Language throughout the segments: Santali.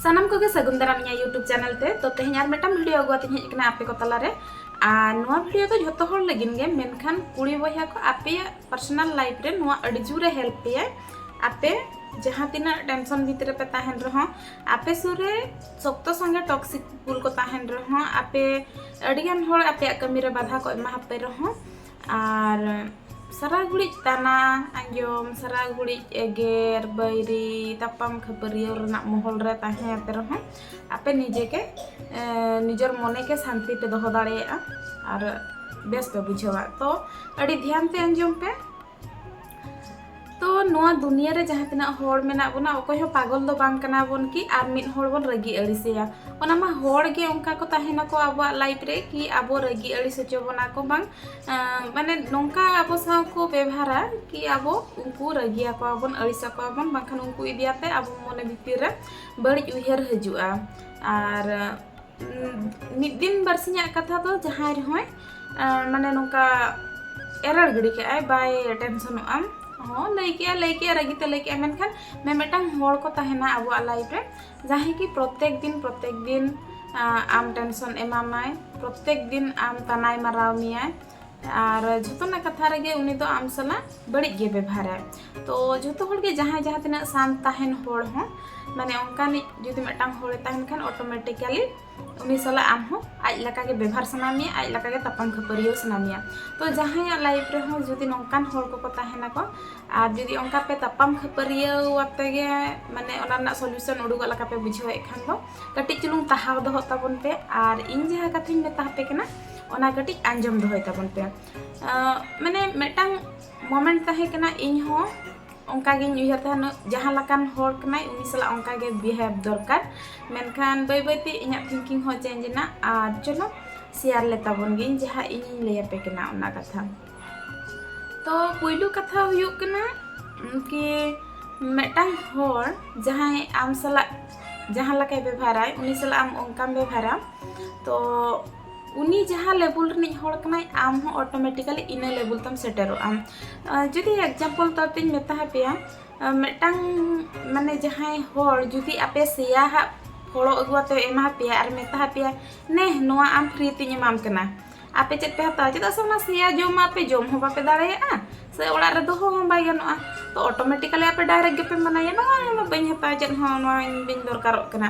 ᱥᱟᱱᱟᱢ ᱠᱚᱜᱮ ᱥᱟᱹᱜᱩᱱ ᱫᱟᱨᱟᱢ ᱤᱧᱟᱹᱜ ᱭᱩᱴᱩᱵᱽ ᱪᱮᱱᱮᱞ ᱛᱮ ᱛᱚ ᱛᱮᱦᱮᱧ ᱟᱨ ᱢᱤᱫᱴᱟᱝ ᱵᱷᱤᱰᱤᱭᱳ ᱟᱹᱜᱩ ᱟᱛᱮᱧ ᱦᱮᱡ ᱟᱠᱟᱱᱟ ᱟᱯᱮ ᱠᱚ ᱛᱟᱞᱟᱨᱮ ᱟᱨ ᱱᱚᱣᱟ ᱵᱷᱤᱰᱤᱭᱳ ᱫᱚ ᱡᱷᱚᱛᱚ ᱦᱚᱲ ᱞᱟᱹᱜᱤᱫ ᱜᱮ ᱢᱮᱱᱠᱷᱟᱱ ᱠᱩᱲᱤ ᱵᱚᱭᱦᱟ ᱠᱚ ᱟᱯᱮᱭᱟᱜ ᱯᱟᱨᱥᱚᱱᱟᱞ ᱞᱟᱭᱤᱯᱷ ᱨᱮ ᱱᱚᱣᱟ ᱟᱹᱰᱤ ᱡᱳᱨᱮ ᱦᱮᱞᱯ ᱯᱮᱭᱟ ᱟᱯᱮ ᱡᱟᱦᱟᱸ ᱛᱤᱱᱟᱹᱜ ᱴᱮᱱᱥᱚᱱ ᱵᱷᱤᱛᱨᱤ ᱨᱮᱯᱮ ᱛᱟᱦᱮᱱ ᱨᱮᱦᱚᱸ ᱟᱯᱮ ᱥᱩᱨ ᱨᱮ ᱥᱚᱠᱛᱚ ᱥᱚᱸᱜᱮ ᱴᱚᱠᱥᱤᱠ ᱯᱩᱞ ᱠᱚ ᱛᱟᱦᱮᱱ ᱨᱮᱦᱚᱸ ᱟᱯᱮ ᱟᱹᱰᱤᱜᱟᱱ ᱦᱚᱲ ᱟᱯᱮᱭᱟᱜ ᱠᱟᱹᱢᱤ ᱨᱮ ᱵᱟᱫᱷᱟ ᱠᱚ ᱮᱢᱟ ᱟᱯᱮ ᱨᱮᱦᱚᱸ ᱟᱨ ᱥᱟᱨᱟ ᱜᱷᱩᱲᱤᱡ ᱛᱟᱱᱟ ᱟᱸᱡᱚᱢ ᱥᱟᱨᱟ ᱜᱷᱩᱲᱤᱡ ᱮᱜᱮᱨ ᱵᱟᱹᱭᱨᱤ ᱛᱟᱯᱟᱢ ᱠᱷᱟᱹᱯᱟᱹᱨᱤᱭᱟᱹ ᱨᱮᱱᱟᱜ ᱢᱚᱦᱚᱞ ᱨᱮ ᱛᱟᱦᱮᱸ ᱟᱯᱮ ᱨᱮᱦᱚᱸ ᱟᱯᱮ ᱱᱤᱡᱮ ᱜᱮ ᱱᱤᱡᱮᱨ ᱢᱚᱱᱮ ᱜᱮ ᱥᱟᱱᱛᱤ ᱯᱮ ᱫᱚᱦᱚ ᱫᱟᱲᱮᱭᱟᱜᱼᱟ ᱟᱨ ᱵᱮᱥ ᱯᱮ ᱵᱩᱡᱷᱟᱹᱣᱟ ᱛᱚ ᱟᱹᱰᱤ ᱫᱷᱮᱭᱟᱱ ᱛᱮ ᱟᱸᱡᱚᱢ ᱯᱮ ᱛᱚ ᱱᱚᱣᱟ ᱫᱩᱱᱤᱭᱟᱹ ᱨᱮ ᱡᱟᱦᱟᱸ ᱛᱤᱱᱟᱹᱜ ᱦᱚᱲ ᱢᱮᱱᱟᱜ ᱵᱚᱱᱟ ᱚᱠᱚᱭ ᱦᱚᱸ ᱯᱟᱜᱚᱞ ᱫᱚ ᱵᱟᱝ ᱠᱟᱱᱟ ᱵᱚᱱ ᱠᱤ ᱟᱨ ᱢᱤᱫ ᱦᱚᱲ ᱵᱚᱱ ᱨᱟᱹᱜᱤ ᱟᱹᱲᱤᱥᱮᱭᱟ ᱚᱱᱟ ᱢᱟ ᱦᱚᱲ ᱜᱮ ᱚᱱᱠᱟ ᱠᱚ ᱛᱟᱦᱮᱱᱟᱠᱚ ᱟᱵᱚᱣᱟᱜ ᱞᱟᱭᱤᱯᱷ ᱨᱮ ᱠᱤ ᱟᱵᱚ ᱨᱟᱹᱜᱤ ᱟᱹᱲᱤᱥ ᱦᱚᱪᱚ ᱵᱚᱱᱟ ᱠᱚ ᱵᱟᱝ ᱢᱟᱱᱮ ᱱᱚᱝᱠᱟ ᱟᱵᱚ ᱥᱟᱶ ᱠᱚ ᱵᱮᱵᱷᱟᱨᱟ ᱠᱤ ᱟᱵᱚ ᱩᱱᱠᱩ ᱨᱟᱹᱜᱤ ᱟᱠᱚᱣᱟ ᱵᱚᱱ ᱟᱹᱲᱤᱥ ᱟᱠᱚᱣᱟ ᱵᱚᱱ ᱵᱟᱝᱠᱷᱟᱱ ᱩᱱᱠᱩ ᱤᱫᱤᱭᱟᱛᱮ ᱟᱵᱚ ᱢᱚᱱᱮ ᱵᱷᱤᱛᱤᱨ ᱨᱮ ᱵᱟᱹᱲᱤᱡ ᱩᱭᱦᱟᱹᱨ ᱦᱤᱡᱩᱜᱼᱟ ᱟᱨ ᱢᱤᱫ ᱫᱤᱱ ᱵᱟᱨᱥᱤᱧᱟᱜ ᱠᱟᱛᱷᱟ ᱫᱚ ᱡᱟᱦᱟᱸᱭ ᱨᱮᱦᱚᱸᱭ ᱢᱟᱱᱮ ᱱᱚᱝᱠᱟ ᱮᱨᱟᱲ ᱜᱤᱰᱤ ᱠᱮᱜᱼᱟᱭ ᱵᱟᱭ ᱴᱮᱱᱥᱚᱱᱚᱜ ᱟᱢ ᱦᱚᱸ ᱞᱟᱹᱭ ᱠᱮᱜᱼᱟ ᱞᱟᱹᱭ ᱠᱮᱜᱼᱟ ᱨᱟᱹᱜᱤ ᱛᱮ ᱞᱟᱹᱭ ᱠᱮᱜᱼᱟ ᱢᱮᱱᱠᱷᱟᱱ ᱢᱤᱢᱤᱫᱴᱟᱝ ᱦᱚᱲ ᱠᱚ ᱛᱟᱦᱮᱱᱟ ᱟᱵᱚᱣᱟᱜ ᱞᱟᱭᱤᱯᱷ ᱨᱮ ᱡᱟᱦᱟᱸᱭ ᱠᱤ ᱯᱨᱚᱛᱮᱠ ᱫᱤᱱ ᱯᱨᱚᱛᱮᱠ ᱫᱤᱱ ᱟᱢ ᱴᱮᱱᱥᱚᱱ ᱮᱢᱟᱢᱟᱭ ᱯᱨᱚᱛᱮᱠ ᱫᱤᱱ ᱟᱢ ᱛᱟᱱᱟᱭ ᱢᱟᱨᱟᱣ ᱢᱮᱭᱟᱭ ᱟᱨ ᱡᱷᱚᱛᱚᱱᱟᱜ ᱠᱟᱛᱷᱟ ᱨᱮᱜᱮ ᱩᱱᱤ ᱫᱚ ᱟᱢ ᱥᱟᱞᱟᱜ ᱵᱟᱹᱲᱤᱡ ᱜᱮ ᱵᱮᱵᱷᱟᱨᱟᱭ ᱛᱚ ᱡᱷᱚᱛᱚ ᱦᱚᱲ ᱜᱮ ᱡᱟᱦᱟᱸᱭ ᱡᱟᱦᱟᱸ ᱛᱤᱱᱟᱹᱜ ᱥᱟᱱ ᱛᱟᱦᱮᱱ ᱦᱚᱲ ᱦᱚᱸ ᱢᱟᱱᱮ ᱚᱱᱠᱟᱱᱤᱡ ᱡᱩᱫᱤ ᱢᱤᱫᱴᱟᱝ ᱦᱚᱲᱮ ᱛᱟᱦᱮᱱ ᱠᱷᱟᱱ ᱚᱴᱳᱢᱮᱴᱤᱠᱟᱞᱤ ᱩᱱᱤ ᱥᱟᱞᱟᱜ ᱟᱢ ᱦᱚᱸ ᱟᱡ ᱞᱮᱠᱟ ᱜᱮ ᱵᱮᱵᱷᱟᱨ ᱥᱟᱱᱟ ᱢᱮᱭᱟ ᱟᱡ ᱞᱮᱠᱟ ᱜᱮ ᱛᱟᱯᱟᱢ ᱠᱷᱟᱹᱯᱟᱹᱨᱤᱭᱟᱹ ᱥᱟᱱᱟ ᱢᱮᱭᱟ ᱛᱚ ᱡᱟᱦᱟᱸᱭᱟᱜ ᱞᱟᱭᱤᱯᱷ ᱨᱮᱦᱚᱸ ᱡᱩᱫᱤ ᱱᱚᱝᱠᱟᱱ ᱦᱚᱲ ᱠᱚᱠᱚ ᱛᱟᱦᱮᱱᱟ ᱠᱚ ᱟᱨ ᱡᱩᱫᱤ ᱚᱱᱠᱟ ᱯᱮ ᱛᱟᱯᱟᱢ ᱠᱷᱟᱹᱯᱟᱹᱨᱤᱭᱟᱹ ᱟᱛᱮ ᱜᱮ ᱢᱟᱱᱮ ᱚᱱᱟ ᱨᱮᱱᱟᱜ ᱥᱚᱞᱩᱥᱚᱱ ᱩᱰᱩᱠᱚᱜ ᱞᱮᱠᱟ ᱯᱮ ᱵᱩᱡᱷᱟᱹᱣᱮᱫ ᱠᱷᱟᱱ ᱫᱚ ᱠᱟᱹᱴᱤᱡ ᱪᱩᱞᱩᱝ ᱛᱟᱦᱟᱣ ᱫᱚᱦᱚᱜ ᱛᱟᱵᱚᱱ ᱯᱮ ᱟᱨ ᱤᱧ ᱡᱟᱦᱟᱸ ᱠᱟᱛᱷᱟᱧ ᱢᱮᱛᱟ ᱯᱮ ᱠᱟᱱᱟ ᱚᱱᱟ ᱠᱟᱹᱴᱤᱡ ᱟᱸᱡᱚᱢ ᱫᱚᱦᱚᱭ ᱛᱟᱵᱚᱱ ᱯᱮ ᱢᱟᱱᱮ ᱢᱤᱫᱴᱟᱝ ᱢᱚᱢᱮᱱᱴ ᱛᱟᱦᱮᱸ ᱠᱟᱱᱟ ᱤᱧ ᱦᱚᱸ ᱚᱱᱠᱟ ᱜᱤᱧ ᱩᱭᱦᱟᱹᱨ ᱛᱟᱦᱮᱱ ᱡᱟᱦᱟᱸ ᱞᱮᱠᱟᱱ ᱦᱚᱲ ᱠᱟᱱᱟᱭ ᱩᱱᱤ ᱥᱟᱞᱟᱜ ᱚᱱᱠᱟ ᱜᱮ ᱵᱤᱦᱮᱵᱽ ᱫᱚᱨᱠᱟᱨ ᱢᱮᱱᱠᱷᱟᱱ ᱵᱟᱹᱭ ᱵᱟᱹᱭᱛᱮ ᱤᱧᱟᱹᱜ ᱛᱷᱤᱝᱠᱤᱝ ᱦᱚᱸ ᱪᱮᱧᱡᱽ ᱮᱱᱟ ᱟᱨ ᱪᱚᱞᱚ ᱥᱮᱭᱟᱨ ᱞᱮ ᱛᱟᱵᱚᱱ ᱜᱤᱧ ᱡᱟᱦᱟᱸ ᱤᱧᱤᱧ ᱞᱟᱹᱭ ᱟᱯᱮ ᱠᱟᱱᱟ ᱚᱱᱟ ᱠᱟᱛᱷᱟ ᱛᱚ ᱯᱩᱭᱞᱩ ᱠᱟᱛᱷᱟ ᱦᱩᱭᱩᱜ ᱠᱟᱱᱟ ᱠᱤ ᱢᱤᱫᱴᱟᱝ ᱦᱚᱲ ᱡᱟᱦᱟᱸᱭ ᱟᱢ ᱥᱟᱞᱟᱜ ᱡᱟᱦᱟᱸ ᱞᱮᱠᱟᱭ ᱵᱮᱵᱷᱟᱨᱟᱭ ᱩᱱᱤ ᱥᱟᱞᱟᱜ ᱟᱢ ᱚᱱᱠᱟᱢ ᱵᱮᱵᱷᱟᱨᱟ ᱛᱚ ᱩᱱᱤ ᱡᱟᱦᱟᱸ ᱞᱮᱵᱮᱞ ᱨᱤᱱᱤᱡ ᱦᱚᱲ ᱠᱟᱱᱟᱭ ᱟᱢ ᱦᱚᱸ ᱚᱴᱳᱢᱮᱴᱤᱠᱟᱞᱤ ᱤᱱᱟᱹ ᱞᱮᱵᱮᱞ ᱛᱮᱢ ᱥᱮᱴᱮᱨᱚᱜᱼᱟ ᱡᱩᱫᱤ ᱮᱠᱡᱟᱢᱯᱚᱞ ᱛᱚᱨ ᱛᱤᱧ ᱢᱮᱛᱟ ᱯᱮᱭᱟ ᱢᱤᱫᱴᱟᱝ ᱢᱟᱱᱮ ᱡᱟᱦᱟᱸᱭ ᱦᱚᱲ ᱡᱩᱫᱤ ᱟᱯᱮ ᱥᱮᱭᱟ ᱦᱟᱜ ᱯᱷᱚᱲᱚ ᱟᱹᱜᱩ ᱟᱛᱮ ᱮᱢᱟ ᱯᱮᱭᱟ ᱟᱨ ᱢᱮᱛᱟ ᱯᱮᱭᱟ ᱱᱮ ᱱᱚᱣᱟ ᱟᱢ ᱯᱷᱨᱤ ᱛᱤᱧ ᱮᱢᱟᱢ ᱠᱟᱱᱟ ᱟᱯᱮ ᱪᱮᱫ ᱯᱮ ᱦᱟᱛᱟᱣᱟ ᱪᱮᱫᱟᱜ ᱥᱮ ᱚᱱᱟ ᱥᱮᱭᱟ ᱡᱚᱢ ᱟᱯᱮ ᱡᱚᱢ ᱦᱚᱸ ᱵᱟᱯᱮ ᱫᱟᱲᱮᱭᱟᱜᱼᱟ ᱥᱮ ᱚᱲᱟᱜ ᱨᱮ ᱫᱚᱦᱚ ᱦᱚᱸ ᱵᱟᱭ ᱜᱟᱱᱚᱜᱼᱟ ᱛᱚ ᱚᱴᱳᱢᱮᱴᱤᱠᱟᱞᱤ ᱟᱯᱮ ᱰᱟᱭᱨᱮᱠᱴ ᱜᱮᱯᱮ ᱢᱟᱱᱟᱭᱟ ᱵᱟᱝᱟ ᱱᱚᱣᱟ ᱵᱟᱹᱧ ᱦᱟᱛᱟᱣᱟ ᱪᱮᱫ ᱦᱚᱸ ᱱᱚᱣᱟ ᱤᱧ ᱵᱟᱹᱧ ᱫᱚᱨᱠᱟᱨᱚᱜ ᱠᱟᱱᱟ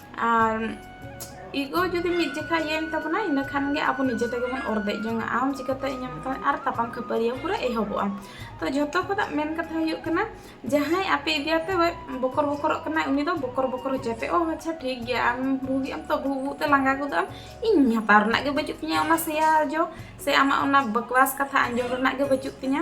ᱟᱨ ᱤᱜᱳ ᱡᱩᱫᱤ ᱢᱤᱫ ᱡᱮᱠᱷᱟ ᱤᱭᱟᱹᱭᱮᱱ ᱛᱟᱵᱚᱱᱟ ᱤᱱᱟᱹ ᱠᱷᱟᱱ ᱜᱮ ᱟᱵᱚ ᱱᱤᱡᱮ ᱛᱮᱜᱮ ᱵᱚᱱ ᱚᱨᱫᱮᱡ ᱡᱚᱝᱟ ᱟᱢ ᱪᱤᱠᱟᱹᱛᱮ ᱤᱧ ᱮᱢ ᱠᱟᱱᱟ ᱟᱨ ᱛᱟᱯᱟᱢ ᱠᱷᱟᱹᱯᱟᱹᱨᱤᱭᱟᱹ ᱯᱩᱨᱟᱹ ᱮᱦᱚᱵᱚᱜᱼᱟ ᱛᱚ ᱡᱷᱚᱛᱚ ᱠᱷᱚᱱᱟᱜ ᱢᱮᱱ ᱠᱟᱛᱷᱟ ᱦᱩᱭᱩᱜ ᱠᱟᱱᱟ ᱡᱟᱦᱟᱸᱭ ᱟᱯᱮ ᱤᱫᱤᱭᱟᱛᱮ ᱵᱚᱠᱚᱨ ᱵᱚᱠᱚᱨᱚᱜ ᱠᱟᱱᱟᱭ ᱩᱱᱤ ᱫᱚ ᱵᱚᱠᱚᱨ ᱵᱚᱠᱚᱨ ᱦᱚᱪᱚᱭ ᱯᱮ ᱚ ᱟᱪᱪᱷᱟ ᱴᱷᱤᱠ ᱜᱮᱭᱟ ᱟᱢ ᱵᱷᱩᱜᱤ ᱟᱢ ᱛᱚ ᱵᱷᱩ ᱵᱷᱩ ᱛᱮ ᱞᱟᱸᱜᱟ ᱜᱚᱫᱚᱜ ᱟᱢ ᱤᱧ ᱦᱟᱛᱟᱣ ᱨᱮᱱᱟᱜ ᱜᱮ ᱵᱟᱹᱪᱩᱜ ᱛᱤᱧᱟᱹ ᱚᱱᱟ ᱥᱮᱭᱟ ᱡᱚ ᱥᱮ ᱟᱢᱟᱜ ᱚᱱᱟ ᱵᱟᱠᱣᱟᱥ ᱠᱟᱛᱷᱟ ᱟᱸᱡᱚᱢ ᱨᱮᱱᱟᱜ ᱜᱮ ᱵᱟᱹᱪᱩᱜ ᱛᱤᱧᱟᱹ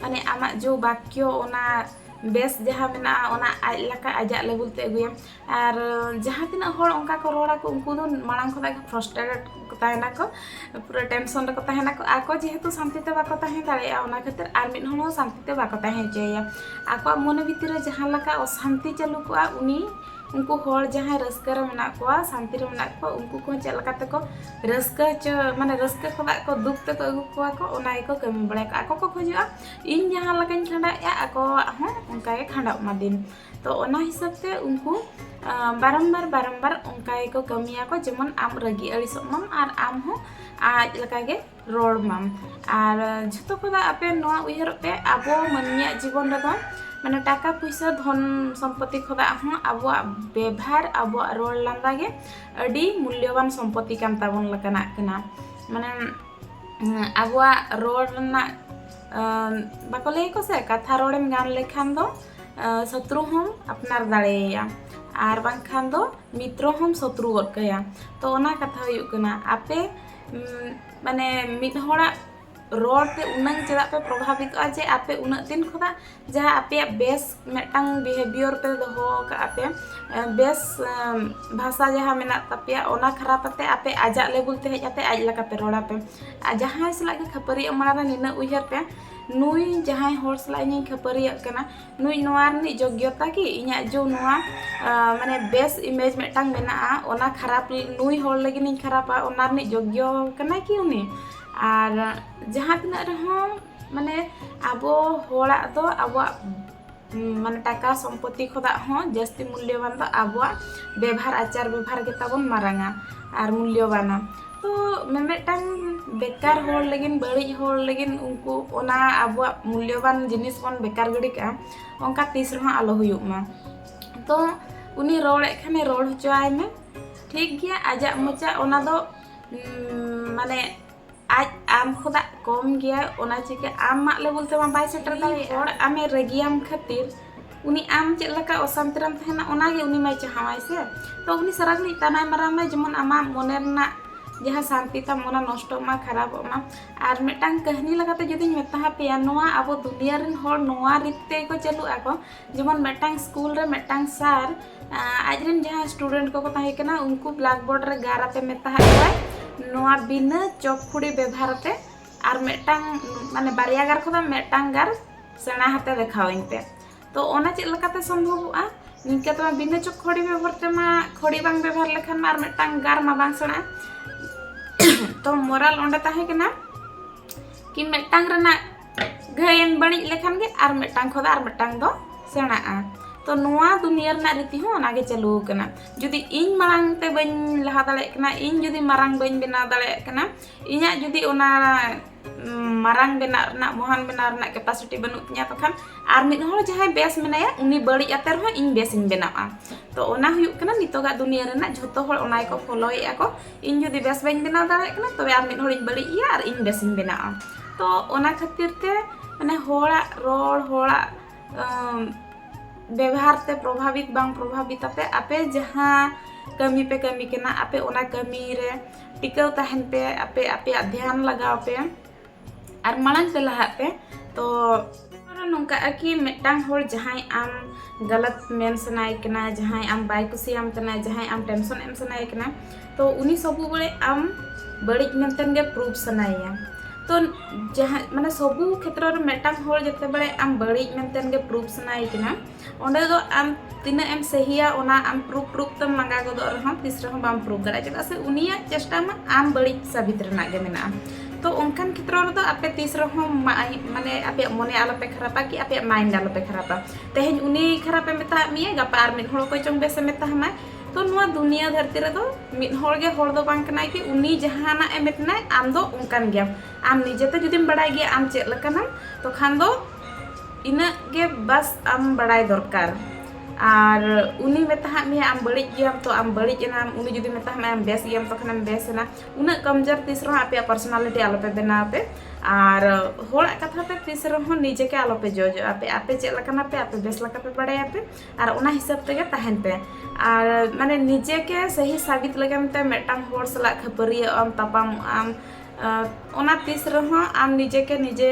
ᱢᱟᱱᱮ ᱟᱢᱟᱜ ᱡᱳ ᱵᱟᱠᱭᱚ ᱚᱱᱟ ᱵᱮᱥ ᱡᱟᱦᱟᱸ ᱢᱮᱱᱟᱜᱼᱟ ᱚᱱᱟ ᱟᱡ ᱞᱮᱠᱟ ᱟᱡᱟᱜ ᱞᱮᱵᱮᱞ ᱛᱮ ᱟᱹᱜᱩᱭᱮᱢ ᱟᱨ ᱡᱟᱦᱟᱸ ᱛᱤᱱᱟᱹᱜ ᱦᱚᱲ ᱚᱱᱠᱟ ᱠᱚ ᱨᱚᱲᱟ ᱠᱚ ᱩᱱᱠᱩ ᱫᱚ ᱢᱟᱲᱟᱝ ᱠᱷᱚᱱᱟᱜ ᱜᱮ ᱯᱷᱨᱚᱥᱴᱨᱮᱴᱮᱰ ᱠᱚ ᱛᱟᱦᱮᱱᱟ ᱠᱚ ᱯᱩᱨᱟᱹ ᱴᱮᱱᱥᱚᱱ ᱨᱮᱠᱚ ᱛᱟᱦᱮᱱᱟ ᱠᱚ ᱟᱠᱚ ᱡᱮᱦᱮᱛᱩ ᱥᱟᱱᱛᱤ ᱛᱮ ᱵᱟᱠᱚ ᱛᱟᱦᱮᱸ ᱫᱟᱲᱮᱭᱟᱜᱼᱟ ᱚᱱᱟ ᱠᱷᱟᱹᱛᱤᱨ ᱟᱨ ᱢᱤᱫ ᱦᱚᱲ ᱦᱚᱸ ᱥᱟᱱᱛᱤ ᱛᱮ ᱵᱟᱠᱚ ᱛᱟᱦᱮᱸ ᱦᱚᱪᱚᱭᱮᱭᱟ ᱟᱠᱚᱣᱟᱜ ᱢᱚᱱᱮ ᱵᱷᱤᱛᱤᱨ ᱨᱮ ᱡᱟᱦᱟᱸ ᱞᱮᱠᱟ ᱚᱥᱟᱱᱛᱤ ᱪᱟᱹᱞᱩ ᱠᱚᱜᱼᱟ ᱩᱱᱤ ᱩᱱᱠᱩ ᱦᱚᱲ ᱡᱟᱦᱟᱸᱭ ᱨᱟᱹᱥᱠᱟᱹ ᱨᱮ ᱢᱮᱱᱟᱜ ᱠᱚᱣᱟ ᱥᱟᱱᱛᱤ ᱨᱮ ᱢᱮᱱᱟᱜ ᱠᱚᱣᱟ ᱩᱱᱠᱩ ᱠᱚ ᱪᱮᱫ ᱞᱮᱠᱟ ᱛᱮᱠᱚ ᱨᱟᱹᱥᱠᱟᱹ ᱦᱚᱪᱚ ᱢᱟᱱᱮ ᱨᱟᱹᱥᱠᱟᱹ ᱠᱷᱚᱱᱟᱜ ᱠᱚ ᱫᱩᱠ ᱛᱮᱠᱚ ᱟᱹᱜᱩ ᱠᱚᱣᱟ ᱠᱚ ᱚᱱᱟ ᱜᱮᱠᱚ ᱠᱟᱹᱢᱤ ᱵᱟᱲᱟᱭᱟ ᱠᱚ ᱟᱠᱚ ᱠᱚ ᱠᱷᱚᱡᱚᱜᱼᱟ ᱤᱧ ᱡᱟᱦᱟᱸ ᱞᱮᱠᱟᱧ ᱠᱷᱟᱸᱰᱟᱣᱮᱫᱼᱟ ᱟᱠᱚᱣᱟᱜ ᱦᱚᱸ ᱚᱱᱠᱟ ᱜᱮ ᱠᱷᱟᱸᱰᱟᱜ ᱢᱟ ᱫᱤᱱ ᱛᱚ ᱚᱱᱟ ᱦᱤᱥᱟᱹᱵ ᱛᱮ ᱩᱱᱠᱩ ᱵᱟᱨᱚᱢᱵᱟᱨ ᱵᱟᱨᱚᱢᱵᱟᱨ ᱚᱱᱠᱟ ᱜᱮᱠᱚ ᱠᱟᱹᱢᱤᱭᱟᱠᱚ ᱡᱮᱢᱚᱱ ᱟᱢ ᱨᱟᱹᱜᱤ ᱟᱹᱲᱤᱥᱚᱜ ᱢᱟᱢ ᱟᱨ ᱟᱢ ᱦᱚᱸ ᱟᱡ ᱞᱮᱠᱟᱜᱮ ᱨᱚᱲ ᱢᱟᱢ ᱟᱨ ᱡᱷᱚᱛᱚ ᱠᱷᱚᱱᱟᱜ ᱟᱯᱮ ᱱᱚᱣᱟ ᱩᱭᱦᱟᱹᱨᱚᱜ ᱯᱮ ᱟᱵᱚ ᱢᱟᱹᱱᱢᱤᱭᱟᱜ ᱡᱤᱵᱚᱱ ᱨᱮᱫᱚ ᱢᱟᱱᱮ ᱴᱟᱠᱟ ᱯᱩᱭᱥᱟᱹ ᱫᱷᱚᱱ ᱥᱚᱢᱯᱚᱛᱤ ᱠᱷᱚᱱᱟᱜ ᱦᱚᱸ ᱟᱵᱚᱣᱟᱜ ᱵᱮᱵᱷᱟᱨ ᱟᱵᱚᱣᱟᱜ ᱨᱚᱲ ᱞᱟᱸᱫᱟ ᱜᱮ ᱟᱹᱰᱤ ᱢᱩᱞᱭᱚᱵᱟᱱ ᱥᱚᱢᱯᱚᱛᱤ ᱠᱟᱱ ᱛᱟᱵᱚᱱ ᱞᱮᱠᱟᱱᱟᱜ ᱠᱟᱱᱟ ᱢᱟᱱᱮ ᱟᱵᱚᱣᱟᱜ ᱨᱚᱲ ᱨᱮᱱᱟᱜ ᱵᱟᱠᱚ ᱞᱟᱹᱭᱟᱠᱚ ᱥᱮ ᱠᱟᱛᱷᱟ ᱨᱚᱲᱮᱢ ᱜᱟᱱ ᱞᱮᱠᱷᱟᱱ ᱫᱚ ᱥᱚᱛᱨᱩ ᱦᱚᱸᱢ ᱟᱯᱱᱟᱨ ᱫᱟᱲᱮᱭᱟᱭᱟ ᱟᱨ ᱵᱟᱝᱠᱷᱟᱱ ᱫᱚ ᱢᱤᱛᱨᱚ ᱦᱚᱸᱢ ᱥᱚᱛᱨᱩ ᱜᱚᱫ ᱠᱟᱭᱟ ᱛᱚ ᱚᱱᱟ ᱠᱟᱛᱷᱟ ᱦᱩᱭᱩᱜ ᱠᱟᱱᱟ ᱟᱯᱮ ᱢᱟᱱᱮ ᱢᱤᱫ ᱦᱚᱲᱟᱜ ᱨᱚᱲ ᱛᱮ ᱩᱱᱟᱹᱝ ᱪᱮᱫᱟᱜ ᱯᱮ ᱯᱨᱚᱵᱷᱟᱵᱤᱛᱚᱜᱼᱟ ᱡᱮ ᱟᱯᱮ ᱩᱱᱟᱹᱜ ᱫᱤᱱ ᱠᱷᱚᱱᱟᱜ ᱡᱟᱦᱟᱸ ᱟᱯᱮᱭᱟᱜ ᱵᱮᱥ ᱢᱤᱫᱴᱟᱝ ᱵᱤᱦᱮᱵᱤᱭᱚᱨ ᱯᱮ ᱫᱚᱦᱚ ᱟᱠᱟᱫ ᱟᱯᱮ ᱵᱮᱥ ᱵᱷᱟᱥᱟ ᱡᱟᱦᱟᱸ ᱢᱮᱱᱟᱜ ᱛᱟᱯᱮᱭᱟ ᱚᱱᱟ ᱠᱷᱟᱨᱟᱯ ᱟᱛᱮ ᱟᱯᱮ ᱟᱡᱟᱜ ᱞᱮᱵᱮᱞ ᱛᱮ ᱦᱮᱡ ᱟᱛᱮ ᱟᱡ ᱞᱮᱠᱟ ᱯᱮ ᱨᱚᱲ ᱟᱯᱮ ᱟᱨ ᱡᱟᱦᱟᱸᱭ ᱥᱟᱞᱟᱜ ᱜᱮ ᱠᱷᱟᱹᱯᱟᱹᱨᱤᱭᱟᱹᱜ ᱢᱟᱲᱟᱝ ᱨᱮ ᱱᱤᱱᱟᱹᱜ ᱩᱭᱦᱟᱹᱨ ᱯᱮ ᱱᱩᱭ ᱡᱟᱦᱟᱸᱭ ᱦᱚᱲ ᱥᱟᱞᱟᱜ ᱤᱧᱤᱧ ᱠᱷᱟᱹᱯᱟᱹᱨᱤᱭᱟᱹᱜ ᱠᱟᱱᱟ ᱱᱩᱭ ᱱᱚᱣᱟ ᱨᱤᱱᱤᱡ ᱡᱳᱜᱽᱭᱚᱛᱟ ᱠᱤ ᱤᱧᱟᱹᱜ ᱡᱮ ᱱᱚᱣᱟ ᱢᱟᱱᱮ ᱵᱮᱥ ᱤᱢᱮᱡᱽ ᱢᱤᱫᱴᱟᱝ ᱢᱮᱱᱟᱜᱼᱟ ᱚᱱᱟ ᱠᱷᱟᱨᱟᱯ ᱱᱩᱭ ᱦᱚᱲ ᱞᱟᱹᱜᱤᱫ ᱤᱧ ᱠᱷᱟᱨᱟᱯᱟ ᱚᱱᱟ ᱨᱤᱱᱤᱡ ᱡᱳᱜᱽᱭᱚ ᱠᱟᱱᱟᱭ ᱠᱤ ᱩᱱᱤ ᱟᱨ ᱡᱟᱦᱟᱸ ᱛᱤᱱᱟᱹᱜ ᱨᱮᱦᱚᱸ ᱢᱟᱱᱮ ᱟᱵᱚ ᱦᱚᱲᱟᱜ ᱫᱚ ᱟᱵᱚᱣᱟᱜ ᱢᱟᱱᱮ ᱴᱟᱠᱟ ᱥᱚᱢᱯᱚᱛᱤ ᱠᱷᱚᱱᱟᱜ ᱦᱚᱸ ᱡᱟᱹᱥᱛᱤ ᱢᱩᱞᱞᱚᱵᱟᱱ ᱫᱚ ᱟᱵᱚᱣᱟᱜ ᱵᱮᱵᱷᱟᱨ ᱟᱪᱟᱨ ᱵᱮᱵᱷᱟᱨ ᱜᱮᱛᱟᱵᱚᱱ ᱢᱟᱨᱟᱝᱟ ᱟᱨ ᱢᱩᱞᱞᱚᱵᱟᱱᱟ ᱛᱚ ᱢᱤᱢᱤᱫᱴᱟᱝ ᱵᱮᱠᱟᱨ ᱦᱚᱲ ᱞᱟᱹᱜᱤᱫ ᱵᱟᱹᱲᱤᱡ ᱦᱚᱲ ᱞᱟᱹᱜᱤᱫ ᱩᱱᱠᱩ ᱚᱱᱟ ᱟᱵᱚᱣᱟᱜ ᱢᱩᱞᱞᱚᱵᱟᱱ ᱡᱤᱱᱤᱥ ᱵᱚᱱ ᱵᱮᱠᱟᱨ ᱜᱤᱰᱤ ᱠᱟᱜᱼᱟ ᱚᱱᱠᱟ ᱛᱤᱥ ᱨᱮᱦᱚᱸ ᱟᱞᱚ ᱦᱩᱭᱩᱜ ᱢᱟ ᱛᱚ ᱩᱱᱤ ᱨᱚᱲᱮᱫ ᱠᱷᱟᱱᱮ ᱨᱚᱲ ᱦᱚᱪᱚᱣᱟᱭ ᱢᱮ ᱴᱷᱤᱠ ᱜᱮᱭᱟ ᱟᱡᱟᱜ ᱢᱚᱪᱟ ᱚᱱᱟ ᱫᱚ ᱢᱟᱱᱮ ᱟᱡ ᱟᱢ ᱠᱷᱚᱱᱟᱜ ᱠᱚᱢ ᱜᱮᱭᱟ ᱚᱱᱟ ᱪᱤᱠᱟᱹ ᱟᱢᱟᱜ ᱞᱮᱵᱮᱞ ᱛᱮᱢᱟ ᱵᱟᱭ ᱥᱮᱴᱮᱨ ᱫᱟᱲᱮᱭᱟᱜᱼᱟ ᱦᱚᱲ ᱟᱢᱮ ᱨᱟᱹᱜᱤᱭᱟᱢ ᱠᱷᱟᱹᱛᱤᱨ ᱩᱱᱤ ᱟᱢ ᱪᱮᱫ ᱞᱮᱠᱟ ᱚᱥᱟᱱᱛᱤ ᱨᱮᱢ ᱛᱟᱦᱮᱱᱟ ᱚᱱᱟᱜᱮ ᱩᱱᱤ ᱢᱟᱭ ᱪᱟᱦᱟᱣᱟᱭ ᱥᱮ ᱛᱚ ᱩᱱᱤ ᱥᱟᱨᱟ ᱜᱷᱟᱹᱲᱤᱡ ᱛᱟᱱᱟᱭ ᱢᱟᱨᱟᱣ ᱢᱮ ᱡᱮᱢᱚᱱ ᱟᱢᱟᱜ ᱢᱚᱱᱮ ᱨᱮᱱᱟᱜ ᱡᱟᱦᱟᱸ ᱥᱟᱱᱛᱤ ᱛᱟᱢ ᱚᱱᱟ ᱱᱚᱥᱴᱚᱜ ᱢᱟ ᱠᱷᱟᱨᱟᱯᱚᱜ ᱢᱟ ᱟᱨ ᱢᱤᱫᱴᱟᱝ ᱠᱟᱹᱦᱱᱤ ᱞᱮᱠᱟᱛᱮ ᱡᱩᱫᱤᱧ ᱢᱮᱛᱟ ᱯᱮᱭᱟ ᱱᱚᱣᱟ ᱟᱵᱚ ᱫᱩᱱᱤᱭᱟᱹ ᱨᱮᱱ ᱦᱚᱲ ᱱᱚᱣᱟ ᱨᱤᱛ ᱛᱮᱜᱮ ᱠᱚ ᱪᱟᱹᱞᱩᱜ ᱟᱠᱚ ᱡᱮᱢᱚᱱ ᱢᱤᱫᱴᱟᱝ ᱥᱠᱩᱞ ᱨᱮ ᱢᱤᱫᱴᱟᱝ ᱥᱟᱨ ᱟᱡ ᱨᱮᱱ ᱡᱟᱦᱟᱸ ᱥᱴᱩᱰᱮᱱᱴ ᱠᱚᱠᱚ ᱛᱟᱦᱮᱸ ᱠᱟᱱᱟ ᱩᱱᱠᱩ ᱵᱞᱟᱠ ᱵᱳᱨᱰ ᱨᱮ ᱜᱟᱨ ᱟᱛᱮ ᱢᱮᱛᱟᱫ ᱠᱚᱣᱟᱭ ᱱᱚᱣᱟ ᱵᱤᱱᱟᱹ ᱪᱚᱠ ᱠᱷᱩᱲᱤ ᱵᱮᱵᱷᱟᱨ ᱟᱛᱮ ᱟᱨ ᱢᱤᱫᱴᱟᱝ ᱢᱟᱱᱮ ᱵᱟᱨᱭᱟ ᱜᱟᱨ ᱠᱷᱚᱱᱟᱜ ᱢᱤᱫᱴᱟᱝ ᱜᱟᱨ ᱥᱮᱬᱟ ᱟᱛᱮ ᱫᱮᱠᱷᱟᱣᱟᱹᱧ ᱯᱮ ᱛᱚ ᱚᱱᱟ ᱪᱮᱫ ᱞᱮᱠᱟᱛᱮ ᱥᱚᱢᱵᱷᱚᱵᱚᱜᱼᱟ ᱱᱤᱝᱠᱟᱹ ᱛᱮᱢᱟ ᱵᱤᱱᱟᱹ ᱪᱚᱠ ᱠᱷᱩᱲᱤ ᱵᱮᱵᱷᱟᱨ ᱛᱮᱢᱟ ᱠᱷᱩᱲᱤ ᱵᱟᱝ ᱵᱮᱵᱷᱟᱨ ᱞᱮᱠᱷᱟᱱ ᱢᱟ ᱟᱨ ᱢᱤᱫᱴᱟᱝ ᱜᱟᱨ ᱢᱟ ᱵᱟᱝ ᱥᱮᱬᱟᱜᱼᱟ ᱛᱚ ᱢᱚᱨᱟᱞ ᱚᱸᱰᱮ ᱛᱟᱦᱮᱸ ᱠᱟᱱᱟ ᱠᱤ ᱢᱤᱫᱴᱟᱝ ᱨᱮᱱᱟᱜ ᱜᱷᱟᱹᱭᱮᱢ ᱵᱟᱹᱲᱤᱡ ᱞᱮᱠᱷᱟᱱ ᱜᱮ ᱟᱨ ᱢᱤᱫᱴᱟᱝ ᱠᱷᱚᱱ ᱟᱨ ᱢᱤᱫᱴᱟᱝ ᱫᱚ ᱥᱮᱬᱟᱜᱼᱟ ᱛᱚ ᱱᱚᱣᱟ ᱫᱩᱱᱤᱭᱟᱹ ᱨᱮᱱᱟᱜ ᱨᱤᱛᱤ ᱦᱚᱸ ᱚᱱᱟᱜᱮ ᱪᱟᱹᱞᱩ ᱟᱠᱟᱱᱟ ᱡᱩᱫᱤ ᱤᱧ ᱢᱟᱲᱟᱝ ᱛᱮ ᱵᱟᱹᱧ ᱞᱟᱦᱟ ᱫᱟᱲᱮᱭᱟᱜ ᱠᱟᱱᱟ ᱤᱧ ᱡᱩᱫᱤ ᱢᱟᱨᱟᱝ ᱵᱟᱹᱧ ᱵᱮᱱᱟᱣ ᱫᱟᱲᱮᱭᱟᱜ ᱠᱟᱱᱟ ᱤᱧᱟᱹᱜ ᱡᱩᱫᱤ ᱚᱱᱟ ᱢᱟᱨᱟᱝ ᱵᱮᱱᱟᱜ ᱨᱮᱱᱟᱜ ᱢᱚᱦᱟᱱ ᱵᱮᱱᱟᱣ ᱨᱮᱱᱟᱜ ᱠᱮᱯᱟᱥᱤᱴᱤ ᱵᱟᱹᱱᱩᱜ ᱛᱤᱧᱟ ᱛᱚᱠᱷᱟᱱ ᱟᱨ ᱢᱤᱫ ᱦᱚᱲ ᱡᱟᱦᱟᱸᱭ ᱵᱮᱥ ᱢᱮᱱᱟᱭᱟ ᱩᱱᱤ ᱵᱟᱹᱲᱤᱡ ᱟᱛᱮ ᱨᱮᱦᱚᱸ ᱤᱧ ᱵᱮᱥᱤᱧ ᱵᱮᱱᱟᱜᱼᱟ ᱛᱚ ᱚᱱᱟ ᱦᱩᱭᱩᱜ ᱠᱟᱱᱟ ᱱᱤᱛᱚᱜᱟᱜ ᱫᱩᱱᱤᱭᱟᱹ ᱨᱮᱱᱟᱜ ᱡᱷᱚᱛᱚ ᱦᱚᱲ ᱚᱱᱟ ᱜᱮᱠᱚ ᱯᱷᱳᱞᱳᱭᱮᱫᱼᱟ ᱠᱚ ᱤᱧ ᱡᱩᱫᱤ ᱵᱮᱥ ᱵᱟᱹᱧ ᱵᱮᱱᱟᱣ ᱫᱟᱲᱮᱭᱟᱜ ᱠᱟᱱᱟ ᱛᱚᱵᱮ ᱟᱢ ᱢᱤᱫ ᱦᱚᱲᱤᱧ ᱵᱟᱹᱲᱤᱡ ᱮᱭᱟ ᱟᱨ ᱤᱧ ᱵᱮᱥᱤᱧ ᱵᱮᱱᱟᱜᱼᱟ ᱛᱚ ᱚᱱᱟ ᱠᱷᱟᱹᱛᱤᱨ ᱛᱮ ᱢᱟᱱᱮ ᱦᱚᱲᱟᱜ ᱨᱚᱲ ᱦᱚᱲᱟᱜ ᱵᱮᱵᱷᱟᱨ ᱛᱮ ᱯᱨᱚᱵᱷᱟᱵᱤᱛ ᱵᱟᱝ ᱯᱨᱚᱵᱷᱟᱵᱤᱛ ᱟᱯᱮ ᱟᱯᱮ ᱡᱟᱦᱟᱸ ᱠᱟᱹᱢᱤ ᱯᱮ ᱠᱟᱹᱢᱤ ᱠᱟᱱᱟ ᱟᱯᱮ ᱚᱱᱟ ᱠᱟᱹᱢᱤ ᱨᱮ ᱴᱤᱠᱟᱹᱣ ᱛᱟᱦᱮᱱ ᱯᱮ ᱟᱯᱮ ᱟᱯᱮᱭᱟᱜ ᱫᱷᱮᱭᱟᱱ ᱞᱟᱜᱟᱣ ᱯᱮ ᱟᱨ ᱢᱟᱲᱟᱝ ᱛᱮ ᱞᱟᱦᱟᱜ ᱯᱮ ᱛᱚ ᱱᱚᱝᱠᱟᱜᱼᱟ ᱠᱤ ᱢᱤᱫᱴᱟᱝ ᱦᱚᱲ ᱡᱟᱦᱟᱸᱭ ᱟᱢ ᱜᱟᱞᱟᱛ ᱢᱮᱱ ᱥᱟᱱᱟᱭᱮ ᱠᱟᱱᱟ ᱡᱟᱦᱟᱸᱭ ᱟᱢ ᱵᱟᱭ ᱠᱩᱥᱤᱭᱟᱢ ᱠᱟᱱᱟ ᱡᱟᱦᱟᱸᱭ ᱟᱢ ᱴᱮᱱᱥᱚᱱ ᱮᱢ ᱥᱟᱱᱟᱭᱮ ᱠᱟᱱᱟ ᱛᱚ ᱩᱱᱤ ᱥᱚᱵᱩ ᱵᱮᱲᱮ ᱟᱢ ᱵᱟᱹᱲᱤᱡ ᱢᱮᱱᱛᱮ ᱜᱮ ᱯᱨᱩᱯᱷ ᱥᱟᱱᱟᱭᱮᱭᱟ ᱛᱚ ᱡᱟᱦᱟᱸ ᱢᱟᱱᱮ ᱥᱚᱵᱩ ᱠᱷᱮᱛᱨᱚ ᱨᱮ ᱢᱤᱫᱴᱟᱝ ᱦᱚᱲ ᱡᱮᱛᱮ ᱵᱮᱲᱮ ᱟᱢ ᱵᱟᱹᱲᱤᱡ ᱢᱮᱱᱛᱮ ᱜᱮ ᱯᱨᱩᱯᱷ ᱥᱟᱱᱟᱭᱮ ᱠᱟᱱᱟ ᱚᱸᱰᱮ ᱫᱚ ᱟᱢ ᱛᱤᱱᱟᱹᱜ ᱮᱢ ᱥᱟᱹᱦᱤᱭᱟ ᱚᱱᱟ ᱟᱢ ᱯᱨᱩᱯ ᱯᱨᱩᱯ ᱛᱮᱢ ᱞᱟᱸᱜᱟ ᱜᱚᱫᱚᱜ ᱨᱮᱦᱚᱸ ᱛᱤᱥ ᱨᱮᱦᱚᱸ ᱵᱟᱢ ᱯᱨᱩᱯ ᱫᱟᱲᱮᱭᱟᱜᱼᱟ ᱪᱮᱫᱟᱜ ᱥᱮ ᱩᱱᱤᱭᱟᱜ ᱪᱮᱥᱴᱟ ᱢᱟ ᱟᱢ ᱵᱟᱹᱲᱤᱡ ᱥᱟᱵᱤᱛ ᱨᱮᱱᱟᱜ ᱜᱮ ᱢᱮᱱᱟᱜᱼᱟ ᱛᱚ ᱚᱱᱠᱟᱱ ᱠᱷᱮᱛᱨᱚ ᱨᱮᱫᱚ ᱟᱯᱮ ᱛᱤᱥ ᱨᱮᱦᱚᱸ ᱢᱟᱱᱮ ᱟᱯᱮᱭᱟᱜ ᱢᱚᱱᱮ ᱟᱞᱚᱯᱮ ᱠᱷᱟᱨᱟᱯᱟ ᱠᱤ ᱟᱯᱮᱭᱟᱜ ᱢᱟᱭᱤᱱᱰ ᱟᱞᱚᱯᱮ ᱠᱷᱟᱨᱟᱯᱟ ᱛᱮᱦᱮᱧ ᱩᱱᱤ ᱠᱷᱟᱨᱟᱯᱮ ᱢᱮᱛᱟᱫ ᱢᱮᱭᱟ ᱜᱟᱯᱟ ᱟᱨ ᱢᱤᱫ ᱦᱚᱲ ᱚᱠᱚᱭ ᱪᱚᱝ ᱵᱮᱥᱮ ᱢᱮᱛᱟᱢᱟᱭ ᱛᱚ ᱱᱚᱣᱟ ᱫᱩᱱᱤᱭᱟᱹ ᱫᱷᱟᱹᱨᱛᱤ ᱨᱮᱫᱚ ᱢᱤᱫ ᱦᱚᱲ ᱜᱮ ᱦᱚᱲ ᱫᱚ ᱵᱟᱝ ᱠᱟᱱᱟᱭ ᱠᱤ ᱩᱱᱤ ᱡᱟᱦᱟᱱᱟᱜ ᱮ ᱢᱮᱛᱟᱢᱟᱭ ᱟᱢ ᱫᱚ ᱚᱱᱠᱟᱱ ᱜᱮᱭᱟᱢ ᱟᱢ ᱱᱤᱡᱮᱛᱮ ᱡᱩᱫᱤᱢ ᱵᱟᱲᱟᱭ ᱜᱮᱭᱟ ᱟᱢ ᱪᱮᱫ ᱞᱮᱠᱟᱱᱟᱢ ᱛᱚᱠᱷᱟᱱ ᱫᱚ ᱤᱱᱟᱹᱜ ᱜᱮ ᱵᱟᱥ ᱟᱢ ᱵᱟᱲᱟᱭ ᱫᱚᱨᱠᱟᱨ ᱟᱨ ᱩᱱᱤ ᱢᱮᱛᱟᱦᱟᱜ ᱢᱮᱭᱟ ᱟᱢ ᱵᱟᱹᱲᱤᱡ ᱜᱮᱭᱟᱢ ᱛᱚ ᱟᱢ ᱵᱟᱹᱲᱤᱡ ᱮᱱᱟᱢ ᱩᱱᱤ ᱡᱩᱫᱤ ᱢᱮᱛᱟᱦᱟᱜ ᱢᱮᱭᱟ ᱟᱢ ᱵᱮᱥ ᱜᱮᱭᱟᱢ ᱛᱚᱠᱷᱚᱱᱮᱢ ᱵᱮᱥ ᱮᱱᱟ ᱩᱱᱟᱹᱜ ᱠᱚᱢᱡᱳᱨ ᱛᱤᱥ ᱨᱮᱦᱚᱸ ᱟᱯᱮᱭᱟᱜ ᱯᱟᱨᱥᱚᱱᱟᱞᱤᱴᱤ ᱟᱞᱚᱯᱮ ᱵᱮᱱᱟᱣ ᱯᱮ ᱟᱨ ᱦᱚᱲᱟᱜ ᱠᱟᱛᱷᱟ ᱛᱮ ᱛᱤᱥ ᱨᱮᱦᱚᱸ ᱱᱤᱡᱮ ᱜᱮ ᱟᱞᱚᱯᱮ ᱡᱚᱡᱚᱜᱼᱟ ᱯᱮ ᱟᱯᱮ ᱪᱮᱫ ᱞᱮᱠᱟᱱᱟ ᱯᱮ ᱟᱯᱮ ᱵᱮᱥ ᱞᱮᱠᱟ ᱯᱮ ᱵᱟᱲᱟᱭᱟ ᱯᱮ ᱟᱨ ᱚᱱᱟ ᱦᱤᱥᱟᱹᱵ ᱛᱮᱜᱮ ᱛᱟᱦᱮᱱ ᱯᱮ ᱟᱨ ᱢᱟᱱᱮ ᱱᱤᱡᱮ ᱜᱮ ᱥᱟᱹᱦᱤ ᱥᱟᱵᱤᱛ ᱞᱟᱹᱜᱤᱫ ᱛᱮ ᱢᱤᱫᱴᱟᱝ ᱦᱚᱲ ᱥᱟᱞᱟᱜ ᱠᱷᱟᱹᱯᱟᱹᱨᱤᱭᱟᱹᱜ ᱟᱢ ᱛᱟᱯᱟᱢᱚᱜ ᱟᱢ ᱚᱱᱟ ᱛᱤᱥ ᱨᱮᱦᱚᱸ ᱟᱢ ᱱᱤᱡᱮ ᱜᱮ ᱱᱤᱡᱮ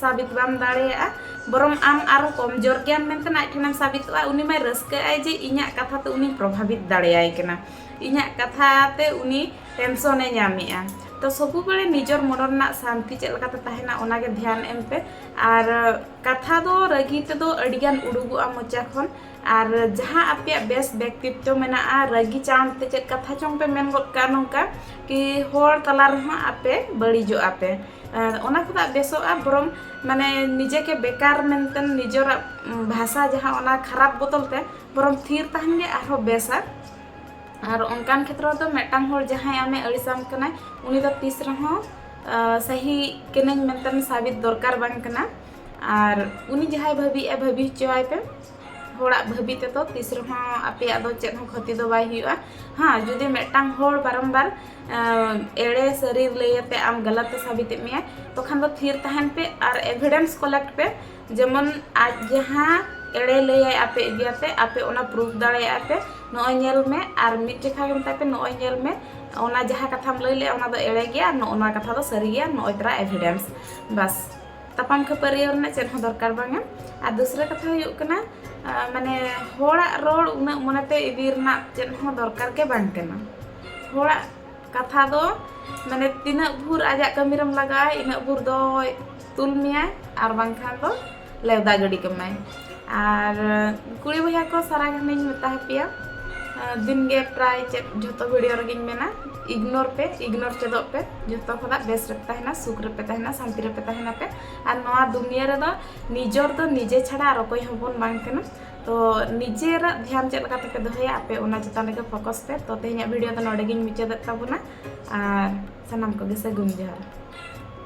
ᱥᱟᱵᱤᱛ ᱵᱟᱢ ᱫᱟᱲᱮᱭᱟᱜᱼᱟ ᱵᱚᱨᱚᱝ ᱟᱢ ᱟᱨᱚ ᱠᱚᱢᱡᱳᱨ ᱜᱮᱭᱟᱢ ᱢᱮᱱᱛᱮ ᱟᱡ ᱴᱷᱮᱱᱮᱢ ᱥᱟᱵᱤᱛᱚᱜᱼᱟ ᱩᱱᱤ ᱢᱟᱭ ᱨᱟᱹᱥᱠᱟᱹᱜᱼᱟᱭ ᱡᱮ ᱤᱧᱟᱹᱜ ᱠᱟᱛᱷᱟ ᱛᱮ ᱩᱱᱤ ᱯᱨᱚᱵᱷᱟᱵᱤᱛ ᱫᱟᱲᱮᱭᱟᱭ ᱠᱟᱱᱟ ᱤᱧᱟᱹᱜ ᱠᱟᱛᱷᱟ ᱛᱮ ᱩᱱᱤ ᱴᱮᱱᱥᱚᱱᱮ ᱧᱟᱢᱮᱜᱼᱟ ᱛᱚ ᱥᱚᱵᱩ ᱵᱮᱲᱮ ᱱᱤᱡᱚᱨ ᱢᱚᱱᱚ ᱨᱮᱱᱟᱜ ᱥᱟᱱᱛᱤ ᱪᱮᱫ ᱞᱮᱠᱟᱛᱮ ᱛᱟᱦᱮᱱᱟ ᱚᱱᱟᱜᱮ ᱫᱷᱮᱭᱟᱱ ᱮᱢ ᱯᱮ ᱟᱨ ᱠᱟᱛᱷᱟ ᱫᱚ ᱨᱟᱹᱜᱤ ᱛᱮᱫᱚ ᱟᱹᱰᱤᱜᱟᱱ ᱩᱰᱩᱠᱚᱜᱼᱟ ᱢᱚᱪᱟ ᱠᱷᱚᱱ ᱟᱨ ᱡᱟᱦᱟᱸ ᱟᱯᱮᱭᱟᱜ ᱵᱮᱥ ᱵᱮᱠᱛᱤᱛᱛᱚ ᱢᱮᱱᱟᱜᱼᱟ ᱨᱟᱹᱜᱤ ᱪᱟᱬ ᱛᱮ ᱪᱮᱫ ᱠᱟᱛᱷᱟ ᱪᱚᱝ ᱯᱮ ᱢᱮᱱ ᱜᱚᱫ ᱠᱟᱜᱼᱟ ᱱᱚᱝᱠᱟ ᱠᱤ ᱦᱚᱲ ᱛᱟᱞᱟ ᱨᱮᱦᱚᱸ ᱟᱯᱮ ᱵᱟᱹᱲᱤᱡᱚᱜᱼᱟ ᱯᱮ ᱟᱨ ᱚᱱᱟ ᱠᱷᱚᱱᱟᱜ ᱵᱮᱥᱚᱜᱼᱟ ᱵᱚᱨᱚᱝ ᱢᱟᱱᱮ ᱱᱤᱡᱮ ᱠᱮ ᱵᱮᱠᱟᱨ ᱢᱮᱱᱛᱮ ᱱᱤᱡᱚᱨᱟᱜ ᱵᱷᱟᱥᱟ ᱡᱟᱦᱟᱸ ᱚᱱᱟ ᱠᱷᱟᱨᱟᱯ ᱵᱚᱫᱚᱞ ᱛᱮ ᱵᱚᱨᱚᱝ ᱛᱷᱤᱨ ᱛᱟᱦᱮᱱ ᱜᱮ ᱟᱨᱦᱚᱸ ᱵᱮᱥᱟ ᱟᱨ ᱚᱱᱠᱟᱱ ᱠᱷᱮᱛᱨᱚ ᱫᱚ ᱢᱤᱫᱴᱟᱝ ᱦᱚᱲ ᱡᱟᱦᱟᱸᱭ ᱟᱢᱮ ᱟᱹᱲᱤᱥᱟᱢ ᱠᱟᱱᱟᱭ ᱩᱱᱤ ᱫᱚ ᱛᱤᱥ ᱨᱮᱦᱚᱸ ᱥᱟᱹᱦᱤ ᱠᱟᱹᱱᱟᱹᱧ ᱢᱮᱱᱛᱮ ᱥᱟᱵᱤᱛ ᱫᱚᱨᱠᱟᱨ ᱵᱟᱝ ᱠᱟᱱᱟ ᱟᱨ ᱩᱱᱤ ᱡᱟᱦᱟᱸᱭ ᱵᱷᱟᱹᱵᱤᱭᱮᱜᱼᱟ ᱵᱷᱟᱹᱵᱤ ᱦᱚᱪᱚᱣᱟᱭ ᱯᱮ ᱦᱚᱲᱟᱜ ᱵᱷᱟᱹᱵᱤ ᱛᱮᱫᱚ ᱛᱤᱥ ᱨᱮᱦᱚᱸ ᱟᱯᱮᱭᱟᱜ ᱫᱚ ᱪᱮᱫ ᱦᱚᱸ ᱠᱷᱚᱛᱤ ᱫᱚ ᱵᱟᱭ ᱦᱩᱭᱩᱜᱼᱟ ᱦᱮᱸ ᱡᱩᱫᱤ ᱢᱤᱫᱴᱟᱝ ᱦᱚᱲ ᱵᱟᱨᱚᱢᱵᱟᱨ ᱮᱲᱮ ᱥᱟᱹᱨᱤ ᱞᱟᱹᱭᱟᱛᱮ ᱟᱢ ᱜᱟᱞᱟᱛ ᱮ ᱥᱟᱵᱤᱛᱮᱫ ᱢᱮᱭᱟ ᱛᱚᱠᱷᱟᱱ ᱫᱚ ᱛᱷᱤᱨ ᱛᱟᱦᱮᱱ ᱯᱮ ᱟᱨ ᱮᱵᱷᱤᱰᱮᱱᱥ ᱠᱚᱞᱮᱠᱴ ᱯᱮ ᱡᱮᱢᱚᱱ ᱟᱡ ᱡᱟᱦᱟᱸ ᱮᱲᱮ ᱞᱟᱹᱭᱟᱭ ᱟᱯᱮ ᱤᱫᱤᱭᱟᱛᱮ ᱟᱯᱮ ᱚᱱᱟ ᱯᱨᱩᱯᱷ ᱫᱟᱲᱮᱭᱟᱜᱼᱟ ᱯᱮ ᱱᱚᱜᱼᱚᱭ ᱧᱮᱞ ᱢᱮ ᱟᱨ ᱢᱤᱫ ᱡᱮᱠᱷᱟ ᱜᱮ ᱢᱮᱛᱟᱭ ᱯᱮ ᱱᱚᱜᱼᱚᱭ ᱧᱮᱞ ᱢᱮ ᱚᱱᱟ ᱡᱟᱦᱟᱸ ᱠᱟᱛᱷᱟᱢ ᱞᱟᱹᱭ ᱞᱮᱫᱼᱟ ᱚᱱᱟ ᱫᱚ ᱮᱲᱮ ᱜᱮᱭᱟ ᱟᱨ ᱱᱚᱜᱼᱚ ᱱᱚᱣᱟ ᱠᱟᱛᱷᱟ ᱫᱚ ᱥᱟᱹᱨᱤ ᱜᱮᱭᱟ ᱱᱚᱜᱼᱚᱭ ᱛᱚᱨᱟ ᱮᱵᱷᱤᱰᱮᱱᱥ ᱵᱟᱥ ᱛᱟᱯᱟᱢ ᱠᱷᱟᱹᱯᱟᱹᱨᱤ ᱨᱮᱱᱟᱜ ᱪᱮᱫ ᱦᱚᱸ ᱫᱚᱨᱠᱟᱨ ᱵᱟᱝᱟ ᱟᱨ ᱫᱚᱥᱨᱟ ᱠᱟᱛᱷᱟ ᱦᱩᱭᱩᱜ ᱠᱟᱱᱟ ᱢᱟᱱᱮ ᱦᱚᱲᱟᱜ ᱨᱚᱲ ᱩᱱᱟᱹᱜ ᱢᱚᱱᱮᱛᱮ ᱤᱫᱤ ᱨᱮᱱᱟᱜ ᱪᱮᱫ ᱦᱚᱸ ᱫᱚᱨᱠᱟᱨ ᱜᱮ ᱵᱟᱝ ᱠᱟᱱᱟ ᱦᱚᱲᱟᱜ ᱠᱟᱛᱷᱟ ᱫᱚ ᱢᱟᱱᱮ ᱛᱤᱱᱟᱹᱜ ᱵᱷᱳᱨ ᱟᱡᱟᱜ ᱠᱟᱹᱢᱤ ᱨᱮᱢ ᱞᱟᱜᱟᱜᱼᱟ ᱤᱱᱟᱹᱜ ᱵᱷᱳᱨ ᱫᱚᱭ ᱛᱩᱞ ᱢᱮᱭᱟᱭ ᱟᱨ ᱵᱟᱝᱠᱷᱟᱱ ᱫᱚ ᱞᱮᱣᱫᱟ ᱜᱤᱰᱤ ᱠᱟᱢᱟᱭ ᱟᱨ ᱠᱩᱲᱤ ᱵᱚᱭᱦᱟ ᱠᱚ ᱥᱟᱨᱟ ᱜᱷᱟᱱᱮᱧ ᱢᱮᱛᱟ ᱦᱟᱯᱮᱭᱟ ᱫᱤᱱ ᱜᱮ ᱯᱨᱟᱭ ᱪᱮᱫ ᱡᱷᱚᱛᱚ ᱵᱷᱤᱰᱤᱭᱳ ᱨᱮᱜᱮᱧ ᱢᱮᱱᱟ ᱤᱜᱽᱱᱳᱨ ᱯᱮ ᱤᱜᱽᱱᱳᱨ ᱪᱮᱫᱚᱜ ᱯᱮ ᱡᱷᱚᱛᱚ ᱠᱷᱚᱱᱟᱜ ᱵᱮᱥ ᱨᱮᱯᱮ ᱛᱟᱦᱮᱱᱟ ᱥᱩᱠ ᱨᱮᱯᱮ ᱛᱟᱦᱮᱱᱟ ᱥᱟᱱᱛᱤ ᱨᱮᱯᱮ ᱛᱟᱦᱮᱱᱟ ᱯᱮ ᱟᱨ ᱱᱚᱣᱟ ᱫᱩᱱᱤᱭᱟᱹ ᱨᱮᱫᱚ ᱱᱤᱡᱚᱨ ᱫᱚ ᱱᱤᱡᱮ ᱪᱷᱟᱲᱟ ᱟᱨ ᱚᱠᱚᱭ ᱦᱚᱸ ᱵᱚᱱ ᱵᱟᱝ ᱠᱟᱱᱟ ᱛᱚ ᱱᱤᱡᱮᱨᱟᱜ ᱫᱷᱮᱭᱟᱱ ᱪᱮᱫ ᱞᱮᱠᱟ ᱛᱮᱯᱮ ᱫᱚᱦᱚᱭᱟ ᱟᱯᱮ ᱚᱱᱟ ᱪᱮᱛᱟᱱ ᱨᱮᱜᱮ ᱯᱷᱳᱠᱚᱥ ᱯᱮ ᱛᱚ ᱛᱮᱦᱮᱧᱟᱜ ᱵᱷᱤᱰᱤᱭᱳ ᱫᱚ ᱱᱚᱰᱮ ᱜᱤᱧ ᱢᱩᱪᱟᱹᱫᱮᱫ ᱛᱟᱵᱚᱱᱟ ᱟᱨ ᱥᱟᱱᱟᱢ ᱠᱚᱜᱮ ᱥᱟᱹᱜᱩᱱ ᱡᱚᱦᱟᱨ